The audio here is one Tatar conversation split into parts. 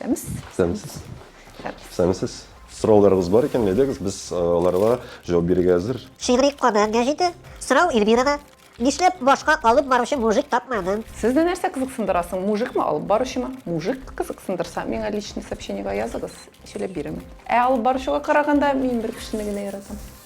Сәмс. Сәмсез. Сәмсез. Сорауларыгыз бар икән, әйдәгез, без аларга җавап бирергә әзер. Шигъри кабер гәҗите. Сорау Эльвирага. Нишләп башка алып баручы мужик тапмадың? Сезне нәрсә кызыксындыра соң, мужикмы, алып баручымы? Мужик кызыксындырса, миңа личный сообщениега языгыз, сөйләп бирермен. Ә алып баручыга караганда, мин бер кешене генә яратам.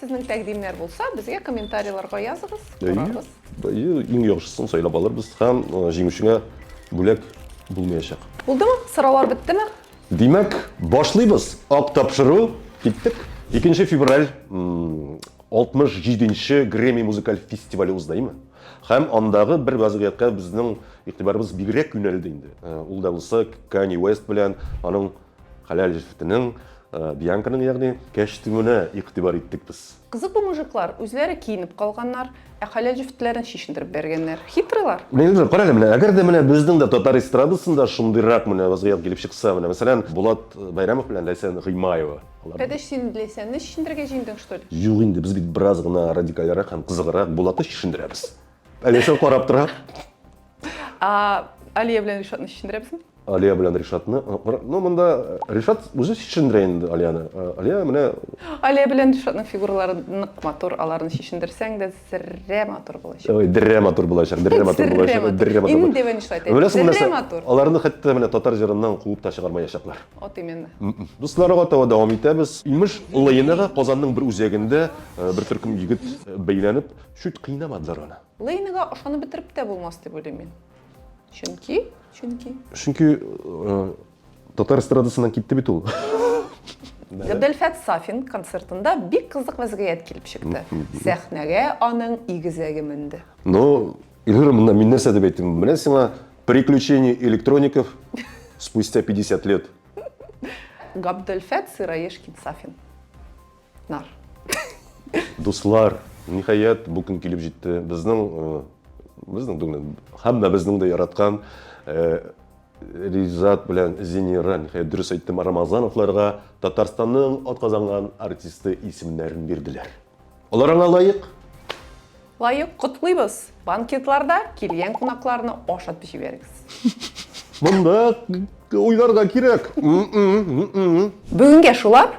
Сезнең тәкъдимнәр булса, безгә комментарийларга языгыз, карарбыз. Әйе, әйе, иң яхшысын сайлап алырбыз һәм җиңүчеңә бүләк булмаячак. Булдымы? Сораулар беттеме? Димәк, башлыйбыз! Ак тапшыру, киттек! Икенче февраль 67 нче Грэмми музыкаль фестивале узды, әйеме? Һәм андагы бер вазгыятькә безнең игътибарыбыз бигрәк юнәлде инде. Ул да булса Канье Уэст белән аның Хәләл җефетенең, Бианканың ягъни, кәчтүменә игътибар иттек без. Кызык бу мужиклар, үзләре киенеп калганнар, ә хәләл җефетләрен чишендереп бәргәннәр. Хитрыйлар. Нигезләр, карале, менә әгәр дә менә безнең дә татар эстрадасында шундыйрак менә вазгыять килеп чыкса, менә мәсәлән, Булат Бәйрәмов белән Ләйсән Гыймаева. Кәдеш, син Ләйсәнне чишендерергә җыендың, что ли? Юк инде, без бит бераз гына радикальрәк һәм кызыграк Булатны чишендерәбез. Ә Ләйсән карап тора. Ә Алия белән Ришатны чишендерәбезме? Алия белән Ришатны оныткан. Ну, монда Ришат үзе чишендерә инде Алияны. Алия менә Алия белән Ришатның фигуралары нык матур, аларны чишендерсәң дә зеррә матур булачак. Ой, деррә матур булачак, деррә матур булачак, деррә матур. Инде дивен ишайт. Беләсең нәрсә? Аларны хәтта менә татар җырыннан куып та чыгармаячаклар. Вот именно. Дуслар гатава дәвам итәбез. Имеш, Лыйнага Казанның бер үзәгендә бер төркем егет бәйләнеп, чүт кыйнамадылар аны. Лыйнага ышанып бетереп тә булмас дип уйлыйм мин. Чөнки, чөнки. Чөнки э, татар эстрадасыннан китте бит ул. Габделфәт Сафин концертында бик кызык вәзгыять килеп чыкты. Сәхнәгә аның игезәге менде. Ну, Ильгар, мында мин нәрсә дип әйтим? Менә сиңа приключения электроников спустя 50 лет. Габделфәт Сыраешкин Сафин. Нар. Дуслар, ниһаять, бу көн килеп җитте. Безнең э, безнең түгел, һәммә безнең дә яраткан э, Ризат белән Зинира, ниһаять дөрес әйттем, Рамазановларга Татарстанның атказанган артисты исемнәрен бирделәр. Алар аңа лаек. Лаек котлыйбыз. Банкетларда килгән кунакларны ашатып җибәрегез. Монда уйларга кирәк. Бүгенгә шулар.